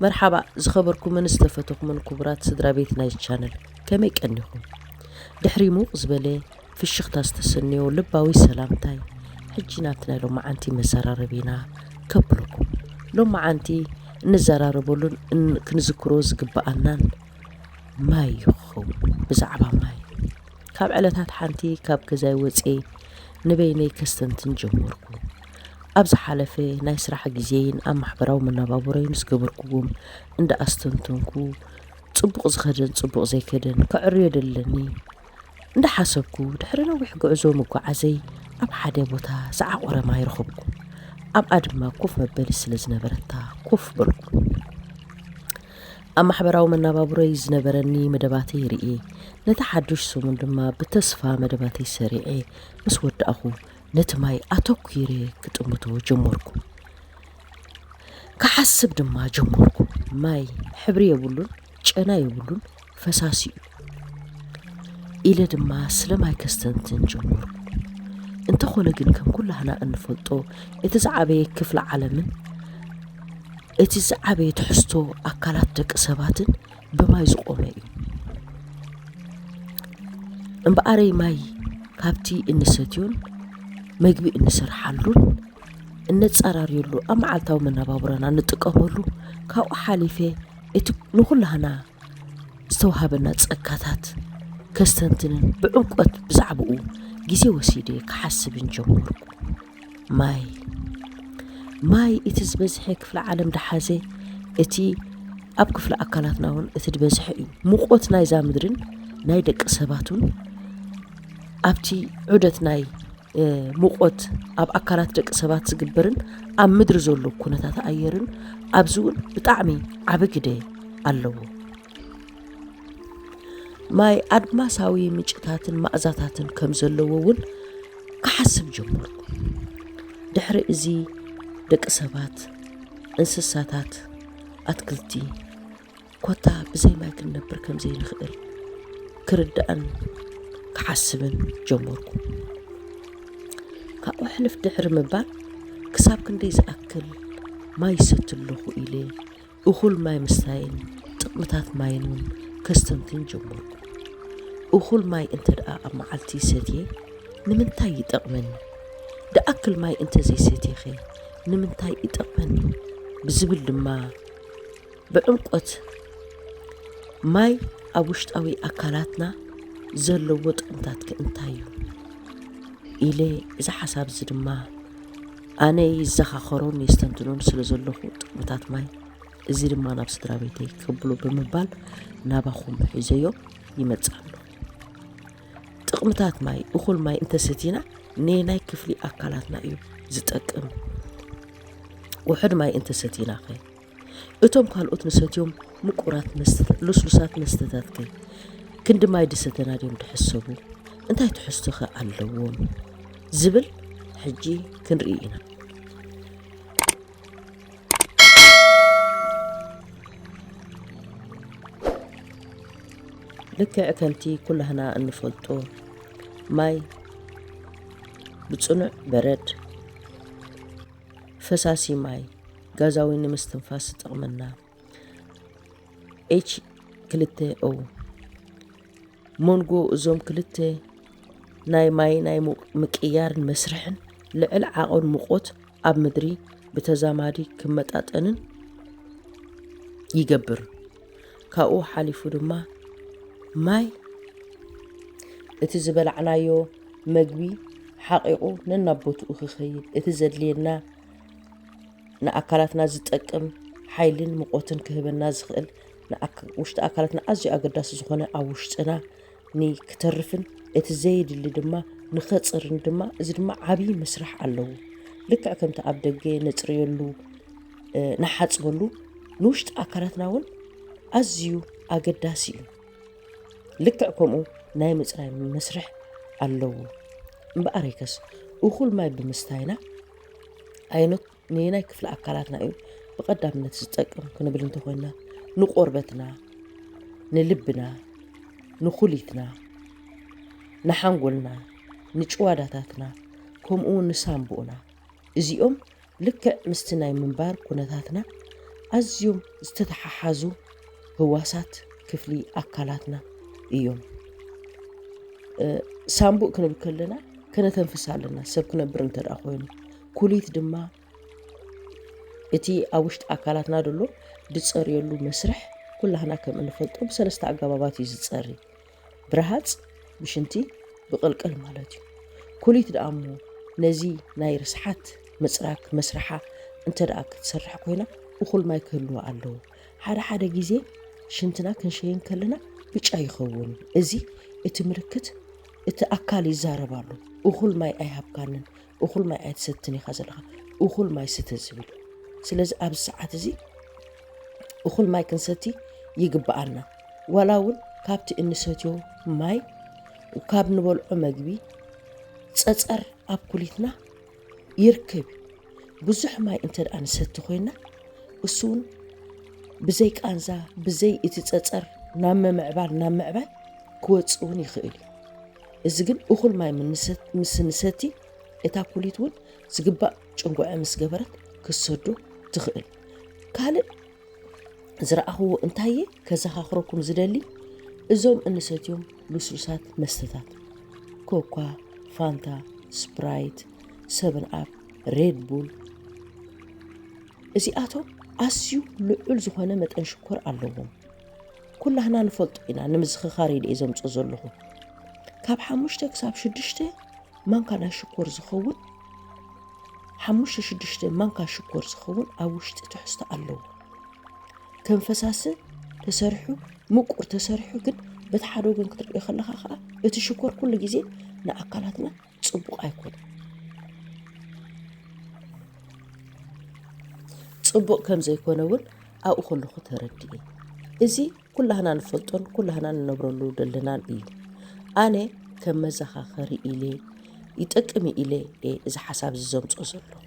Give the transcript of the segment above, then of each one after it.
መርሓባ ዝኸበርኩምን ዝተፈተኹምን ክቡራት ስድራ ቤት ናይ ቻነል ከመይ ቀኒኹም ድሕሪ ሙቕ ዝበለ ፍሽኽታ ዝተሰንዮ ልባዊ ሰላምታይ ሕጂ ናብቲ ናይ ሎማዓንቲ መዘራረቢና ከብለኩም ሎማዓንቲ እንዘራረበሉን ክንዝክሮ ዝግብኣናን ማይ ይኸውን ብዛዕባ ማይ ካብ ዕለታት ሓንቲ ካብ ገዛይ ወጽየ ንበይነይ ከስተንትን ጀመርኩ። ኣብ ዝሓለፈ ናይ ስራሕ ግዜይን ኣብ ማሕበራዊ መነባብሮይን ዝገበርኩዎም እንዳ ኣስተንተንኩ ጽቡቕ ዝኸደን ጽቡቕ ዘይከደን ከዕርዮ ደለኒ እንዳ ሓሰብኩ ድሕሪ ነዊሕ ጉዕዞ ምጓዓዘይ ኣብ ሓደ ቦታ ዝዓቖረ ማይ ረኸብኩ። ኣብኣ ድማ ኮፍ መበሊ ስለ ዝነበረታ ኮፍ በልኩ። ኣብ ማሕበራዊ መነባብሮይ ዝነበረኒ መደባተይ ርእየ፣ ነቲ ሓዱሽ ሰሙን ድማ ብተስፋ መደባተይ ሰሪዐ ምስ ወዳእኹ፣ ነቲ ማይ ኣተኲረ ክጥምቶ ጀመርኩ። ክሓስብ ድማ ጀመርኩ፣ ማይ ሕብሪ የብሉን፣ ጨና የብሉን፣ ፈሳሲ'ዩ። ኢለ ድማ ስለማይ ከስተንትን ጀመርኩ። እንተኾነ ግን ከም ኩላህና እንፈልጦ እቲ ዝዓበየ ክፍሊ ዓለምን እቲ ዝዓበየ ትሕዝቶ ኣካላት ደቂ ሰባትን ብማይ ዝቆመ እዩ። እምበኣረይ ማይ ካብቲ እንሰትዮን መግቢ እንሰርሓሉን እነጻራርየሉ ኣብ መዓልታዊ መነባብሮና እንጥቀመሉ ካብኡ ሓሊፈ እቲ ንኹላህና ዝተውሃበና ጸጋታት ከስተንትንን ብዕምቈት ብዛዕባኡ ግዜ ወሲደ ክሓስብን ጀመርኩ። ማይ ማይ እቲ ዝበዝሐ ክፍለ ዓለም ደሓዘ እቲ ኣብ ክፍለ ኣካላትና እውን እቲ ዝበዝሐ እዩ። ሙቆት ናይዛ ምድርን ናይ ደቂ ሰባቱን ኣብቲ ዑደት ናይ ሙቆት ኣብ ኣካላት ደቂ ሰባት ዝግበርን ኣብ ምድሪ ዘሎ ኩነታት ኣየርን ኣብዚ እውን ብጣዕሚ ዓቢ ግደ ኣለዎ። ማይ ኣድማሳዊ ምጭታትን ማእዛታትን ከም ዘለዎ እውን ክሓስብ ጀመርኩ። ድሕሪ እዚ ደቂ ሰባት፣ እንስሳታት፣ ኣትክልቲ፣ ኮታ ብዘይ ማይ ክንነብር ከም ዘይንኽእል ክርዳእን ክሓስብን ጀመርኩ። ካብኡ ሕልፍ ድሕሪ ምባል ክሳብ ክንደይ ዝኣክል ማይ ይሰቲ ኣለኹ ኢለ እኹል ማይ ምስታይን ጥቕምታት ማይን እውን ከስተንትን ጀመርኩ። እኹል ማይ እንተ ደኣ ኣብ መዓልቲ ሰትየ ንምንታይ ይጠቕመኒ? ደኣክል ማይ እንተ ዘይሰትየኸ ንምንታይ ይጠቕመኒ? ብዝብል ድማ ብዕምቆት ማይ ኣብ ውሽጣዊ ኣካላትና ዘለዎ ጥቕምታትከ እንታይ እዩ? ኢለ እዚ ሓሳብ እዚ ድማ ኣነ ይዘኻኸሮን የስተንትኖን ስለ ዘለኹ ጥቕምታት ማይ እዚ ድማ ናብ ስድራ ቤተይ ከብሎ ብምባል ናባኹም ሒዘዮ ይመጽእ ኣለኹ። ጥቕምታት ማይ እኹል ማይ እንተሰቲና ነየናይ ክፍሊ ኣካላትና እዩ ዝጠቅም? ውሑድ ማይ እንተሰቲናኸ? እቶም ካልኦት ንሰትዮም ምቁራት መስተታት ሉስሉሳት መስተታት ከ ክንዲ ማይ ድሰተና ድዮም ድሕሰቡ እንታይ ትሕዝቶ ከ ኣለዎም ዝብል ሕጂ ክንርኢ ኢና። ልክዕ ከምቲ ኩላህና እንፈልጦ ማይ ብጽኑዕ በረድ ፈሳሲ ማይ ጋዛዊ ንምስትንፋስ ዝጠቕመና ኤች ክልተ ኦ መንጎ እዞም ክልተ ናይ ማይ ናይ ምቅያርን መስርሕን ልዕል ዓቕን ሙቆት ኣብ ምድሪ ብተዛማዲ ክመጣጠንን ይገብር። ካብኡ ሓሊፉ ድማ ማይ እቲ ዝበላዕናዮ መግቢ ሓቒቑ ነናቦትኡ ክኸይድ እቲ ዘድልየና ንኣካላትና ዝጠቅም ሓይልን ምቆትን ክህበና ዝኽእል ውሽጢ ኣካላትና ኣዝዩ ኣገዳሲ ዝኾነ ኣብ ውሽጥና ንክተርፍን እቲ ዘየድሊ ድማ ንኸፅርን ድማ እዚ ድማ ዓብዪ ምስራሕ ኣለዎ ልክዕ ከምቲ ኣብ ደገ ነፅርየሉ ንሓፅበሉ ንውሽጢ ኣካላትና እውን ኣዝዩ ኣገዳሲ እዩ ልክዕ ከምኡ ናይ ምፅራይ መስርሕ ኣለዎ እምበኣረይከስ እኹል ማይ ብምስታይና ዓይነት ነየናይ ክፍሊ ኣካላትና እዩ ብቐዳምነት ዝጠቅም ክንብል እንተኾይንና ንቆርበትና፣ ንልብና፣ ንኩሊትና፣ ንሓንጎልና፣ ንጭዋዳታትና ከምኡ እውን ንሳንቡእና እዚኦም ልክዕ ምስቲ ናይ ምንባር ኩነታትና ኣዝዮም ዝተተሓሓዙ ህዋሳት ክፍሊ ኣካላትና እዮም። ሳንቡእ ክንብል ከለና ከነተንፍስ ኣለና ሰብ ክነብር እንተ ኮይኑ ኩሊት ድማ እቲ ኣብ ውሽጢ ኣካላትና ዘሎ ዝፀርየሉ መስርሕ ኩላህና ከም እንፈልጦ ብሰለስተ ኣገባባት እዩ ዝፀሪ ብረሃፅ ብሽንቲ ብቕልቅል ማለት እዩ ኩሊት ደኣ እሞ ነዚ ናይ ርስሓት ምፅራግ መስርሓ እንተ ደኣ ክትሰርሕ ኮይና እኹል ማይ ክህልዎ ኣለዎ ሓደ ሓደ ግዜ ሽንትና ክንሸይን ከለና ብጫ ይኸውን እዚ እቲ ምልክት እቲ ኣካል ይዛረባሉ እኹል ማይ ኣይሃብካንን እኹል ማይ ኣይትሰትን ኢኻ ዘለኻ እኹል ማይ ስተ ዝብል ስለዚ ኣብዚ ሰዓት እዚ እኹል ማይ ክንሰቲ ይግብኣና ዋላ እውን ካብቲ እንሰትዮ ማይ ካብ ንበልዖ መግቢ ፀፀር ኣብ ኩሊትና ይርከብ ብዙሕ ማይ እንተ ደኣ ንሰቲ ኮይና እሱ እውን ብዘይ ቃንዛ ብዘይ እቲ ፀፀር ናብ ምምዕባል ናብ ምዕባይ ክወፅእ እውን ይኽእል እዩ እዚ ግን እኹል ማይ ምስ ንሰቲ እታ ኩሊት እውን ዝግባእ ጭንጉዐ ምስ ገበረት ክትሰዶ ትኽእል። ካልእ ዝረኣኹዎ እንታየ ከዘኻኽረኩም ዝደሊ እዞም እንሰትዮም ልስሉሳት መስተታት ኮኳ፣ ፋንታ፣ ስፕራይት፣ ሰብን ኣፕ፣ ሬድ ቡል እዚኣቶም ኣዝዩ ልዑል ዝኾነ መጠን ሽኮር ኣለዎም። ኩላህና ንፈልጦ ኢና ንምዝኽኻር ኢለ እየ ዘምጾ ዘለኹ ካብ ሓሙሽተ ክሳብ ሽዱሽተ ማንካ ናይ ሽኮር ዝኸውን ሓሙሽተ ሽዱሽተ ማንካ ሽኮር ዝኸውን ኣብ ውሽጢ ትሕዝቶ ኣለዎ ከም ፈሳሲ ተሰሪሑ ምቁር ተሰሪሑ ግን በቲ ሓደ ወገን ክትሪኦ ከለኻ ከዓ እቲ ሽኮር ኩሉ ግዜ ንኣካላትና ፅቡቕ ኣይኮነን። ፅቡቕ ከም ዘይኮነ እውን ኣብኡ ከለኹ ተረድኤ። እዚ ኩላህና ንፈልጦን ኩላህና ንነብረሉ ደለናን እዩ። ኣነ ከም መዘኻኸሪ ኢለ ይጠቅም ኢለ እዚ ሓሳብ እዚ ዘምፆ ዘለኹ።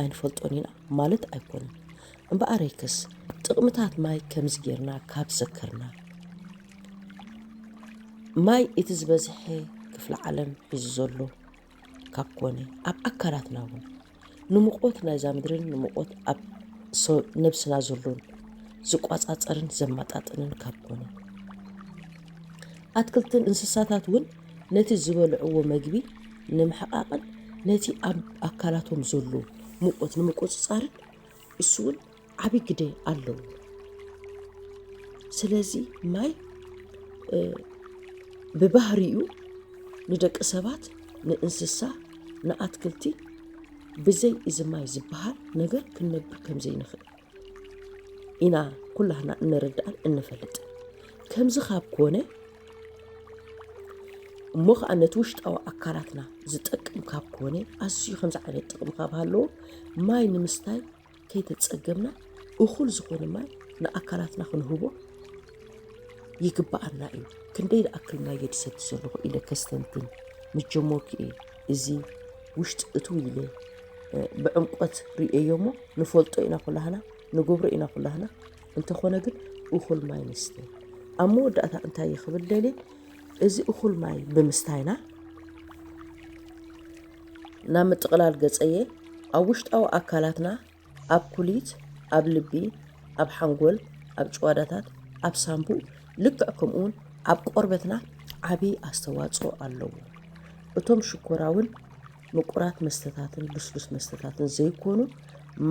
ኣይንፈልጦን ኢና ማለት ኣይኮነን። እምበኣረይክስ ጥቕምታት ማይ ከምዚ ጌርና ካብ ዘከርና፣ ማይ እቲ ዝበዝሐ ክፍለ ዓለም ሒዙ ዘሎ ካብ ኮነ፣ ኣብ ኣካላትና እውን ንሙቖት ናይዛ ምድርን ንሙቖት ኣብ ነብስና ዘሎን ዝቋጻጸርን ዘማጣጥንን ካብ ኮነ፣ ኣትክልትን እንስሳታት እውን ነቲ ዝበልዕዎ መግቢ ንምሕቓቕን ነቲ ኣብ ኣካላቶም ዘሎ ሙቖት ንምቁጽጻርን እሱ እውን ዓብይ ግደ ኣለዎ ስለዚ ማይ ብባህሪኡ ንደቂ ሰባት ንእንስሳ ንኣትክልቲ ብዘይ እዚ ማይ ዝበሃል ነገር ክንነብር ከም ዘይንኽእል ኢና ኩላህና እንርዳእን እንፈልጥን ከምዚ ካብ ኮነ እሞ ከዓ ነቲ ውሽጣዊ ኣካላትና ዝጠቅም ካብ ኮነ ኣዝዩ ከምዚ ዓይነት ጥቕሚ ካብ ሃለዎ ማይ ንምስታይ ከይተፀገምና እኹል ዝኾነ ማይ ንኣካላትና ክንህቦ ይግባኣና እዩ ክንደይ ዝኣክል ማይ የድሰቲ ዘለኹ ኢለ ከስተንትን ምጀመርኩ እየ እዚ ውሽጢ እትው ኢለ ብዕምቆት ርእየዮ እሞ ንፈልጦ ኢና ኩላህና ንገብሮ ኢና ኩላህና እንተኾነ ግን እኹል ማይ ንስተ። ኣብ መወዳእታ እንታይ እዩ ክብል ደልየ እዚ እኹል ማይ ብምስታይና ናብ ምጥቕላል ገጸየ ኣብ ውሽጣዊ ኣካላትና ኣብ ኩሊት፣ ኣብ ልቢ፣ ኣብ ሓንጎል፣ ኣብ ጭዋዳታት፣ ኣብ ሳምቡእ ልክዕ ከምኡውን ኣብ ቆርበትና ዓብዪ ኣስተዋፅኦ ኣለዎ። እቶም ሽኮራውን ምቁራት መስተታትን ልስሉስ መስተታትን ዘይኮኑ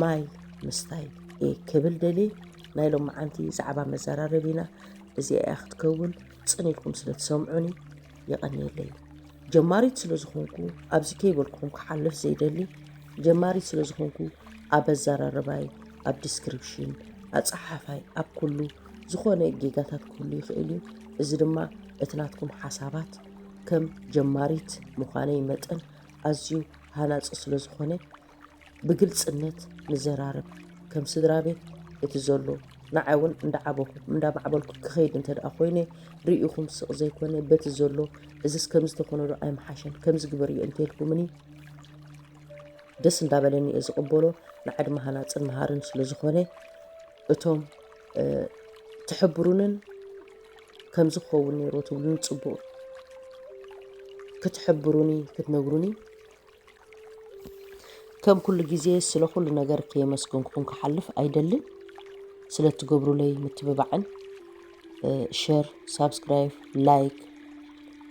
ማይ ምስታይ እየ ክብል ደልየ። ናይ ሎምዓንቲ ዛዕባ መዘራረቢና እዚኣ እያ ክትከውን፣ ጽን ኢልኩም ስለ ትሰምዑኒ የቐንየለይ። ጀማሪት ስለ ዝኾንኩ ኣብዚ ከይበልኩኹም ክሓልፍ ዘይደሊ ጀማሪት ስለ ዝኾንኩ ኣብ ኣዘራርባይ፣ ኣብ ዲስክሪፕሽን፣ ኣጸሓሕፋይ፣ ኣብ ኩሉ ዝኾነ ጌጋታት ክህሉ ይኽእል እዩ። እዚ ድማ እቲ ናትኩም ሓሳባት ከም ጀማሪት ምዃነይ መጠን ኣዝዩ ሃናጺ ስለ ዝኾነ ብግልጽነት ንዘራረብ። ከም ስድራቤት እቲ ዘሎ ንዓይ ውን እንዳዓበኹ እንዳማዕበልኩ ክኸይድ እንተድኣ ኮይነ ርኢኹም ስቕ ዘይኮነ በቲ ዘሎ እዝስ ከምዚ ተኾነዶ ኣይምሓሸን ከምዚ ግበርዮ እንተልኩምኒ ደስ እንዳበለኒ እየ ዝቕበሎ ንዓይ ድማ ሃናጽን መሃርን ስለ ዝኾነ እቶም ትሕብሩንን ከምዚ ክኸውን ነይርዎ ትብሉኒ ጽቡቕ ክትሕብሩኒ ክትነግሩኒ ከም ኩሉ ግዜ ስለ ኩሉ ነገር ከየመስገንኩኹም ክሓልፍ ኣይደልን ስለ እትገብሩለይ ምትብባዕን ሸር ሳብስክራይብ ላይክ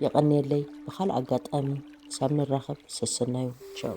የቐንየለይ ብካልእ ኣጋጣሚ ክሳብ ንራኸብ ሰሰናዩ ቻው